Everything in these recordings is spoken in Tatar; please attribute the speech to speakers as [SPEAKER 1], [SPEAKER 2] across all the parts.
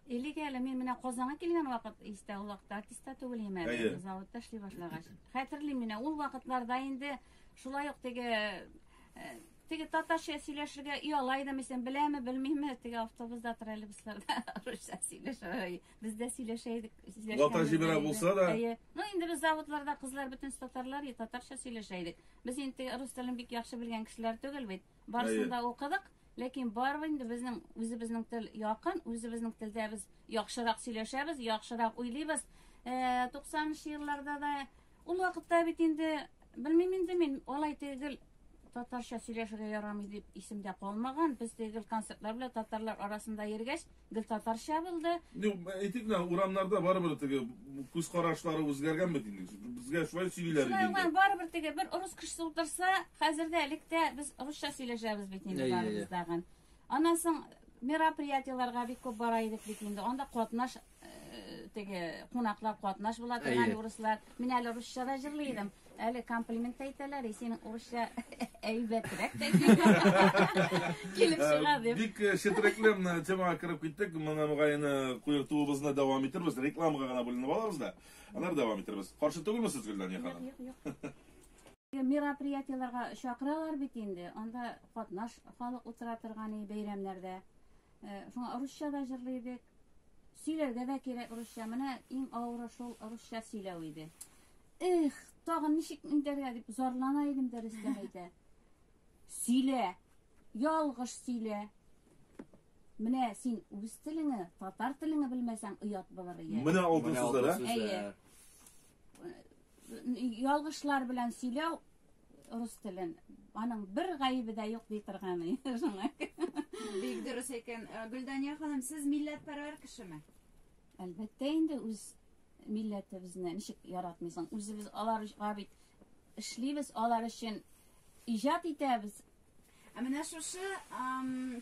[SPEAKER 1] Элек әле мин менә Казанга килгән вакыт истә ул вакытта артистта түгел имен. Әйе. Заводта эшли башлагач. Хәтерлим менә ул вакытларда инде шулай ук теге э, теге татарча сөйләшергә ояла идем исем беләме белмиме теге автобуста троллейбусларда русча сөйләшә ой, без дә сөйләшә идек сөйләшкән Вата идек. җибәрә
[SPEAKER 2] булса да. Әйе. ну инде без
[SPEAKER 1] заводларда кызлар бөтен татарлар и татарча сөйләшә идек без инде теге рус телен бик яхшы белгән кешеләр түгел бит Барысын да укыдык, ләкин барыбер инде безнең үзебезнең тел якын, үзебезнең телдә без яхшырак сөйләшәбез, яхшырак уйлыйбыз. 90 э, елларда да ул вакытта бит инде белмим инде мин алай тегел татарча сөйләшергә ярамый дип исемдә калмаган. Без тегел концертлар белән татарлар арасында йөргәч, Гел татарча булды. Юк, әйтик менә
[SPEAKER 2] урамнарда барыбер теге күз карашлары үзгәргән бит инде. Безгә шулай сөйлиләр иде. Шулай барыбер теге бер
[SPEAKER 1] урыс кешесе утырса, хәзер дә элек тә без урысча сөйләшәбез бит инде барыбыз тагын. Аннан соң мероприятиеләргә бик күп бара идек бит инде. Анда катнаш э, теге кунаклар катнаш була торган урыслар. Мин әле урысча да җырлый идем. Әле комплимент әйтәләр, и синең урысча әйбәтрәк тә килеп чыга дип. Бик э, четерекле
[SPEAKER 2] темага кереп киттек. Моны мөгаен куертуыбызны дәвам итәрбез. Рекламага гына бүленеп алабыз да. Аннары дәвам итәрбез. Каршы түгелме сез, Гөлдания ханым?
[SPEAKER 1] Юк, юк. Мероприятиеләргә чакыралар бит инде. Анда катнаш халык утыра торган бәйрәмнәрдә. Э, шуңа русча да җырлый идек. Сөйләргә дә кирәк русча. Менә иң авыры шул русча сөйләү иде. Эх, тагын ничек индәргә дип зарлана идем дә Рөстәм әйтә. Сөйлә, ялгыш сөйлә. Менә син үз телеңе, татар телеңе белмәсәң оят булыр ия. Менә алтын сүзләр. Ялгышлар белән сөйләү рус телен. Аның бер гаебе дә юк ди торганы.
[SPEAKER 3] Бик дөрес икән. Э, Гөлдания ханым, сез милләтпәрвәр кешеме? Әлбәттә
[SPEAKER 1] инде үз милләтебезне ничек яратмыйсың? Үзебез алар өчен бит эшлибез, алар өчен иҗат итәбез. Ә менә
[SPEAKER 3] шушы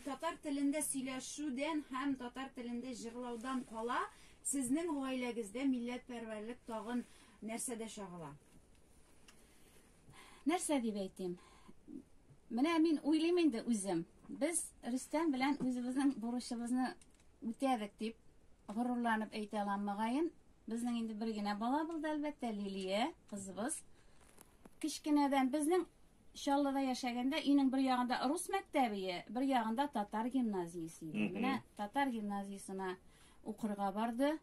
[SPEAKER 3] татар телендә сөйләшүдән һәм татар телендә җырлаудан кала, сезнең гаиләгездә милләтпәрвәрлек тагын нәрсәдә чагыла?
[SPEAKER 1] Нәрсә дип әйтим? Менә мин уйлыйм инде үзем. Без Рөстәм белән үзебезнең бурычыбызны үтәдек дип горурланып әйтә алам мөгаен. Безнең инде бер генә бала булды, әлбәттә, Лилия кызыбыз. Кечкенәдән безнең Чаллыда яшәгәндә өйнең бер ягында рус мәктәбе, бер ягында татар гимназиясе иде. Менә татар гимназиясенә укырга барды,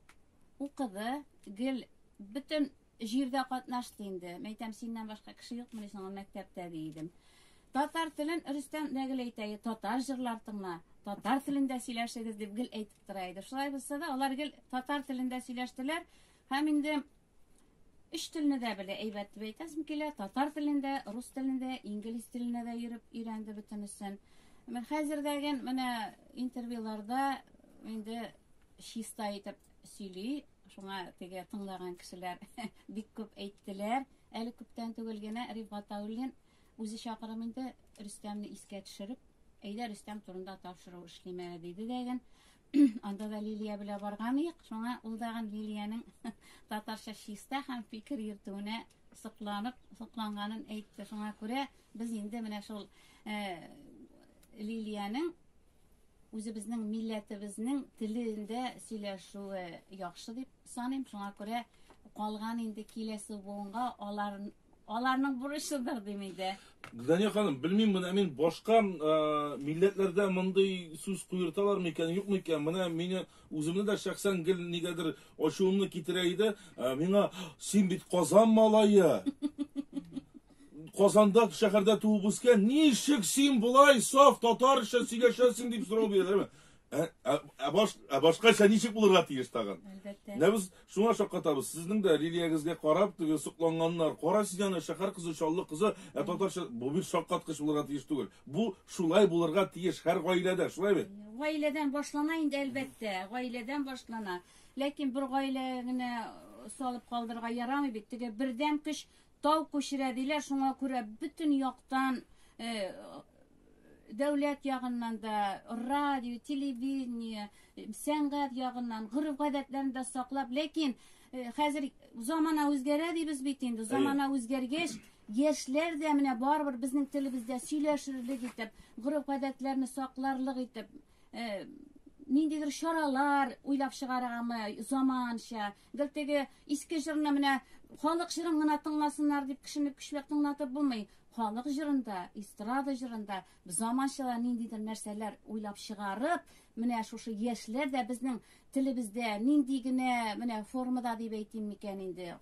[SPEAKER 1] укыды, гел бөтен Җирдә катнаш, ди инде. Мәйтәм, синнән башка кеше юкмыни соң ул мәктәптә, ди идем. Татар телен Рөстәм дә гел әйтә иде, татар җырлар тыңла, татар телендә сөйләшегез дип гел әйтеп тора иде. Шулай булса да, алар гел татар телендә сөйләштеләр һәм инде өч телне дә белә, әйбәт дип әйтәсем килә. Татар телендә, рус телендә, инглиз телендә дә йөреп өйрәнде бөтенесен. Менә хәзердәген менә интервьюларда инде чиста итеп сөйли, Шуңа теге тыңлаган кешеләр бик күп әйттеләр. Әле күптән түгел генә Риф Гатауллин үзе чакырып инде Рөстәмне искә төшереп, әйдә Рөстәм турында тапшыру эшлим әле диде дәген. Анда да Лилия белән барган идек. Шуңа ул дагын Лилиянең татарча чиста һәм фикер йөртүенә сокланып, сокланганын әйтте. Шуңа күрә без инде менә шул э, Лилиянең Үзебезнең милләтебезнең телендә сөйләшүе яхшы дип саныйм. Шуңа күрә калган инде киләсе буынга алар аларның бурычыдыр дим инде. Дания ханым,
[SPEAKER 2] белмим менә мин башка милләтләрдә мондый сүз куерталар микән, юк микән? Менә мине үземне дә шәхсән гел нигәдер ачуымны китерә иде. Миңа син бит Казан малае. Казанда шәһәрдә туып үскән, ничек син болай саф татарча сөйләшәсең дип сорау бирәләрме? Ә, ә, ә, баш, ә башкача ничек булырга тиеш тагын? Әлбәттә. Менә без
[SPEAKER 1] шуңа
[SPEAKER 2] шаккатабыз. Сезнең дә лилиягезгә карап, теге сокланганнар. Кара син аны, шәһәр кызы, чаллы кызы, ә татарча бу бик шаккаткыч булырга тиеш түгел. Бу шулай булырга тиеш һәр гаиләдә, шулай бит? Гаиләдән башлана
[SPEAKER 1] инде әлбәттә, гаиләдән башлана. Ләкин бер гаилә генә салып калдырырга ярамый бит. Теге бердәм көч Тау күчерә диләр, шуңа күрә бөтен яктан, дәүләт ягыннан да, радио, телевидение, сәнгать ягыннан, гореф-гадәтләрен дә саклап, ләкин хәзер замана үзгәрә дибез бит инде, замана үзгәргәч, яшьләр дә менә барыбер безнең телебездә сөйләшерлек итеп, гореф-гадәтләрне сакларлык итеп, ниндидер чаралар уйлап чыгаргамы заманча, Гел теге иске җырны менә халык җырын гына тыңласыннар дип кешене көчләп тыңлатып булмый. Халык җырында, эстрада җырында заманча ниндидер нәрсәләр уйлап чыгарып, менә шушы яшьләр дә безнең телебездә нинди генә менә формада дип әйтим микән инде,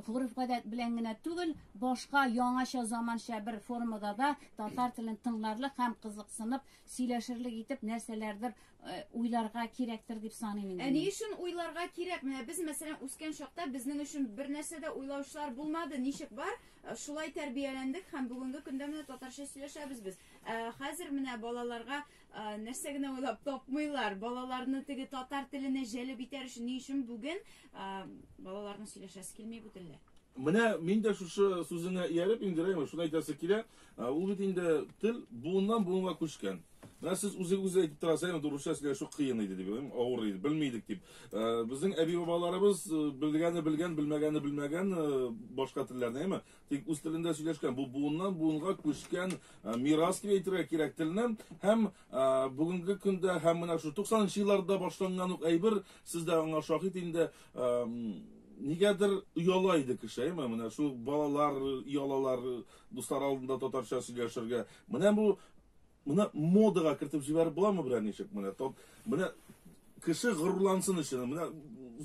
[SPEAKER 1] гореф-гадәт белән генә түгел, башка яңача заманча бер формада да татар телен тыңларлык һәм кызыксынып сөйләшерлек итеп нәрсәләрдер Э, уйларга кирәктер дип саныйм инде. Ә ни өчен уйларга
[SPEAKER 3] кирәк? Менә без мәсәлән үскән чакта безнең өчен бер нәрсә дә уйлаучылар булмады. Ничек бар? Э, шулай тәрбияләндек һәм бүгенге көндә менә татарча сөйләшәбез без. Э, хәзер менә балаларга нәрсә генә уйлап тапмыйлар. Балаларны теге татар теленә җәлеп итәр өчен ни өчен бүген балаларның сөйләшәсе килми бөтенләй. Менә мин дә
[SPEAKER 2] шушы сүзеңә ияреп индерәм, шуны әйтәсе килә. Ул бит инде тел буыннан буынга күчкән. Менә сез үзегез әйтеп торасыз, әйе, дөресчә сөйләшү кыен иде дип, авыр иде, белми идек дип. Э, безнең әби-бабаларыбыз э, белгәне белгән, белмәгәне белмәгән э, башка телләрне, әйеме? Тик үз телендә сөйләшкән. Бу буыннан буынга күчкән мирас дип әйтергә кирәк телне. Һәм бүгенге көндә һәм менә шул 90 нчы елларда башланган ук әйбер, сез дә аңа шаһит инде нигәдер ояла иде кеше, әйме? Менә шул балалар оялалар дуслар алдында татарча сөйләшергә. Менә бу Моны модага кертеп җибәреп буламы берәр ничек менә? Тот, менә кеше горурлансын өчен, менә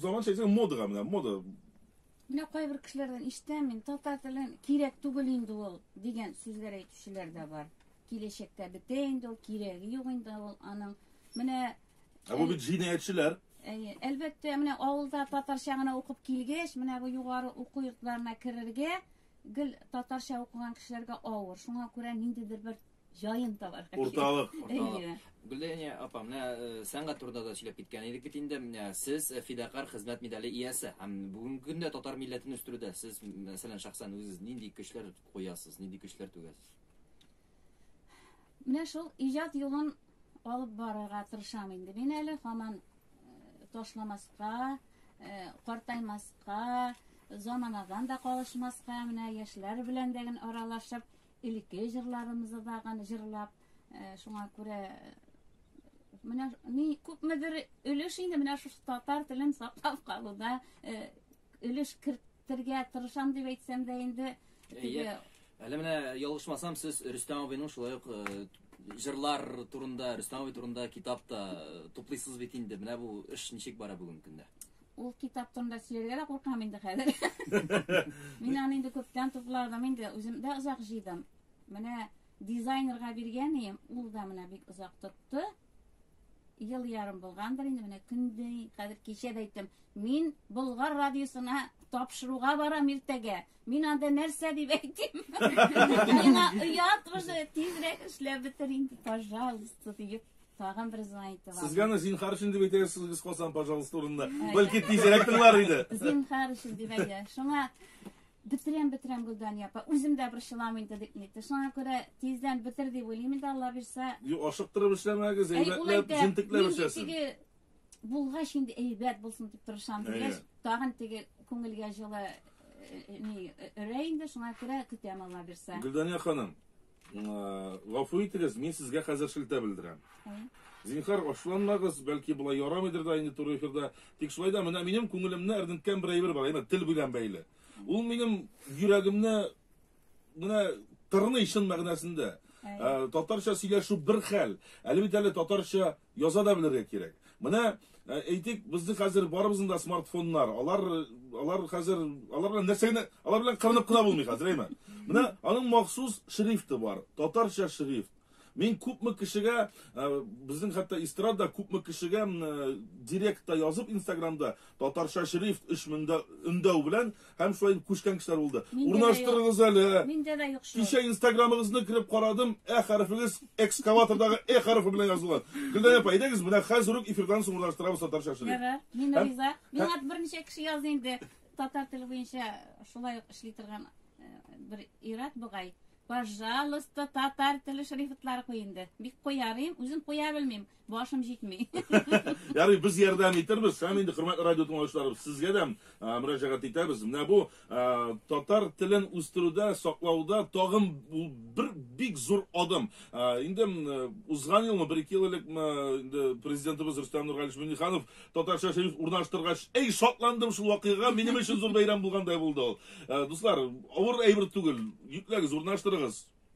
[SPEAKER 2] заманча әйтсәң модага менә, мода. Менә
[SPEAKER 1] кайбер кешеләрдән ишетәм мин, татар телен кирәк түгел инде ул дигән сүзләр әйтүчеләр дә бар. Киләчәктә бетә инде ул, кирәге юк инде ул аның. Менә Ә бу бит
[SPEAKER 2] җинаятьчеләр. Әйе, әлбәттә,
[SPEAKER 1] менә авылда татарча гына укып килгәч, менә бу югары уку йортларына керергә, Гел татарча укыган кешеләргә авыр, шуңа күрә ниндидер бер җаен табарга кирәк. Урталык. Әйе.
[SPEAKER 2] Гөлдәния
[SPEAKER 4] апа, менә э, сәнгать турында да сөйләп киткән идек бит инде. Менә сез э, фидакарь хезмәт медале иясе һәм бүгенге көндә татар милләтен үстерүдә сез мәсәлән шәхсән үзегез нинди көчләр куясыз, нинди көчләр түгәсез?
[SPEAKER 1] Менә шул иҗат юлын алып барырга тырышам инде. Мин әле һаман э, ташламаска, э, картаймаска, заманадан да калышмаска, менә яшьләр белән дә генә аралашып, элекке җырларымызны да гына җырлап, э, шуңа күрә менә ни күпмедер өлеш инде менә шушы татар телен саклап калуда Өлеш кертергә тырышам дип әйтсәм дә инде теге
[SPEAKER 4] Әле менә ялгышмасам, сез Рөстәм абыйның шулай ук э, җырлар турында, Рөстәм абый турында китап та э, туплыйсыз бит инде. Менә бу эш ничек бара бүгенге көндә? Ул китап
[SPEAKER 1] турында сөйләргә дә куркам инде хәзер. Мин аны инде күптән тупладым, инде үзем дә озак җыйдым. Менә дизайнерга биргән идем, ул да менә бик озак тотты. Ел ярым булгандыр инде, менә көндә, хәзер кичә дә әйттем. Мин Болгар радиосына тапшыруга барам иртәгә. Мин анда нәрсә дип әйтим? Миңа оят уже, тизрәк эшләп бетер инде, пожалуйста, диеп. Тагын бер звонить бар. Сезгә аны зинхар өчен дип әйтәсез,
[SPEAKER 2] сүзегез калсам, пожалуйста, урынына. Бәлки тизрәк тыңлар иде. Зинхар өчен дип
[SPEAKER 1] әйтә. Шуңа Бетерәм, бетерәм, Гөлдания апа. Үзем дә борчылам инде, дип нитте. Шуңа күрә тиздән бетер дип уйлыйм инде, Алла бирсә. Юк, ашыктырып эшләмәгез,
[SPEAKER 2] Әй, ул әйбәтләп, әйтә, җентекләп нинди эшләсен. теге булгач
[SPEAKER 1] инде әйбәт булсын дип тырышам Әйе. дигәч, тагын теге күңелгә җылы э, ни э, өрә инде, шуңа күрә көтәм Алла бирсә. Гөлдания ханым,
[SPEAKER 2] Гафу итегез, мин сезгә хәзер шелтә белдерәм. Зинхар, ачуланмагыз, бәлки болай ярамыйдыр да инде туры эфирда. Тик шулай да менә минем күңелемне әрнеткән бер әйбер бар, әйбәт тел белән бәйле. Ул минем йөрәгемне менә тырный чын мәгънәсендә. Ә, татарча сөйләшү бер хәл. Әле бит әле татарча Яза да белергә кирәк. Менә, әйтик, безнең хәзер барыбызның да смартфоннар. Алар, алар хәзер, алар белән нәрсә генә, алар белән кырынып кына булмый хәзер, әйме? Менә аның махсус шрифты бар, татарча шрифт. Мин күпме кешегә, э, безнең хәтта эстрада күпме кешегә э, директта язып Инстаграмда татарча шрифт өч мендә өндәү белән Һәм шулай итеп күчкән кешеләр булды. Урнаштырыгыз әле. Миндә дә юк шул. Кичә
[SPEAKER 1] инстаграмыгызны кереп
[SPEAKER 2] карадым, ә хәрефегез экскаватордагы э хәрефе белән язылган. Гөлдән апа, әйдәгез, менә хәзер үк эфирдан соң урнаштырабыз татарча эшли. Ярар, мин риза.
[SPEAKER 1] Миңа берничә кеше язды инде. Татар теле буенча шулай ук эшли торган э, бер ират бугай. Пожалуйста, татар теле шрифтлары куй инде. Бик куярым, үзем куя белмим. Башым җитми. Ярый, без
[SPEAKER 2] ярдәм итербез. Һәм инде хөрмәтле радио тыңлаучыларыбыз, сезгә дә мөрәҗәгать итәбез. Менә бу татар телен үстерүдә, саклауда тагын бер бик зур адым. Инде узган елмы, бер ике ел элек инде президентыбыз Рөстәм Нургалиевич Миңнеханов татарча шрифт урнаштыргач, эй, шатландым шул вакыйга, минем өчен зур бәйрәм булгандай булды ул. Дуслар, авыр әйбер түгел. Йөкләгез, урнаштырыгыз.